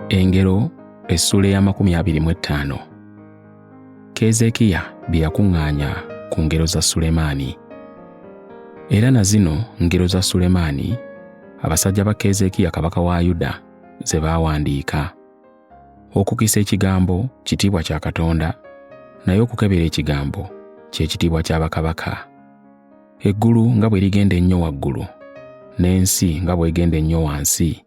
engero essuula ey'amakumi abiri mu ettaano keezeekiya bye yakuŋŋaanya ku ngero za sulemaani era na zino ngero za sulemaani abasajja ba keezeekiya kabaka wa yuda ze baawandiika okukisa ekigambo kitiibwa kya katonda naye okukebera ekigambo ky'ekitiibwa kya bakabaka Eggulu nga bwe ligenda ennyo waggulu, n'ensi nga bw'egenda ennyo wansi,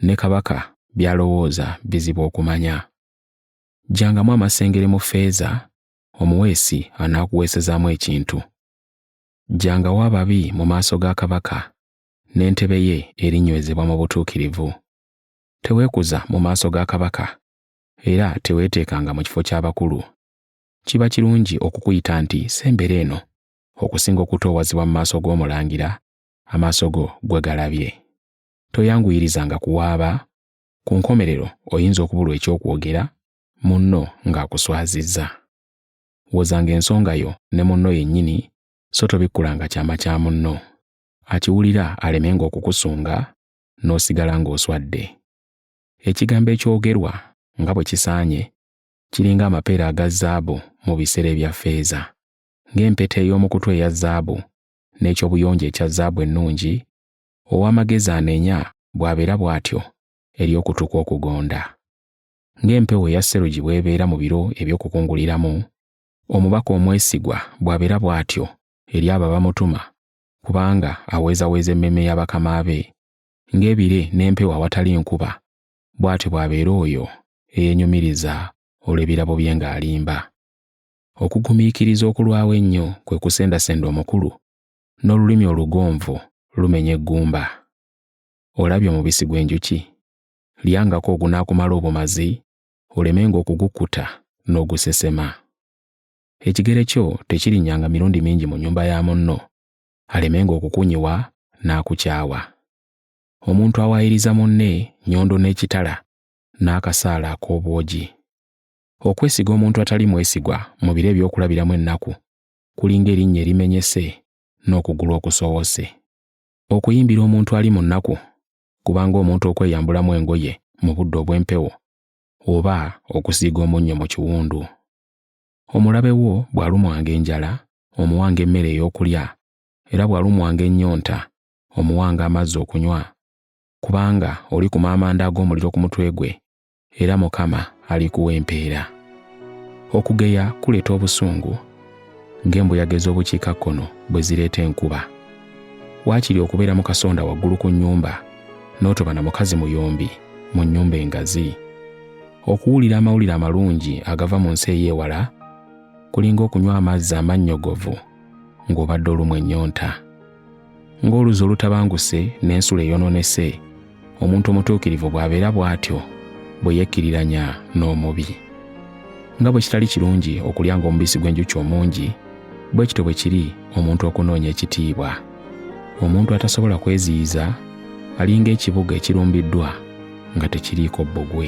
ne kabaka by'alowooza bizibu okumanya. Jjangamu amasengere mu ffeeza, omuweesi anaakuweesezaamu ekintu. Jjangawo ababi mu maaso ga kabaka, n'entebe ye erinywezebwa mu butuukirivu. Teweekuza mu maaso ga kabaka, era teweeteekanga mu kifo ky'abakulu. Kiba kirungi okukuyita nti sembera eno, okusinga okutoowazibwa mu maaso g'omulangira amaaso go gwe galabye. Toyanguyirizanga kuwaaba, ku nkomerero oyinza okubulwa eky'okwogera munno ng'akuswazizza. Wozanga ensonga yo ne munno yennyini so tobikkulanga kyama kya munno, akiwulira alemenga okukusunga n'osigala ng'oswadde. Ekigambo ekyogerwa nga bwe kisaanye kiringa amapeera aga zaabu mu biseera ebya ffeeza. ng'empeta ey'omu kutu eya zaabu, n'eky'obuyonjo ekya zaabu ennungi, ow'amagezi anenya bw'abeera bw'atyo eri okutu kwe okugonda. Ng'empewo eya serugi bw'ebeera mu biro eby'okukunguliramu, omubaka omwesigwa bw'abeera bw'atyo eri abo abamutuma, kubanga aweezaweeza emmeeme ya bakama be, ng'ebire n'empewo awatali nkuba, bw'atyo bw'abeera oyo eyenyumiriza olw'ebirabo bye ng'alimba. Okugumiikiriza okulwawo ennyo kwe kusendasenda omukulu, n'olulimi olugonvu lumenya eggumba. Olabye omubisi gw'enjuki? Lyangako ogunaakumala obumazi, olemenga okugukkuta n'ogusesema. Ekigere kyo tekirinnyanga mirundi mingi mu nnyumba ya munno, alemenga okukunyiwa n'akukyawa. Omuntu awaayiriza munne nnyondo n'ekitala n'akasaale ak'obwogi. Okwesiga omuntu atali mwesigwa mu biro eby'okulabiramu ennaku kulinga erinnya erimenyese n'okugulu okusowose. Okuyimbira omuntu ali mu nnaku kubanga omuntu okweyambulamu engoye mu budde obw'empewo oba okusiiga omunnyo mu kiwundu. Omulabe wo bw'alumwanga enjala omuwanga emmere ey'okulya era bw'alumwanga ennyonta omuwanga amazzi okunywa kubanga oli ku maamanda ag'omuliro ku mutwe gwe era Mukama alikuwa empeera. Okugeya kuleeta obusungu ng'embuyaga ez'obukiikakkono bwe zireeta enkuba. Waakiri okubeera mu kasonda waggulu ku nnyumba n'otoba na mukazi muyombi mu nnyumba engazi. Okuwulira amawulire amalungi agava mu nsi ey'ewala kulinga okunywa amazzi amannyogovu ng'obadde olumwa ennyonta. Ng'oluzi olutabanguse n'ensula eyonoonese, omuntu omutuukirivu bw'abeera bw'atyo bwe yekkiriranya n'omubi. Nga bwe kitali kirungi okulya ng'omubisi gw'enjuki omungi, bwe kityo bwe kiri omuntu okunoonya ekitiibwa. Omuntu atasobola kweziyiza alinga ekibuga ekirumbiddwa nga tekiriiko bbugwe.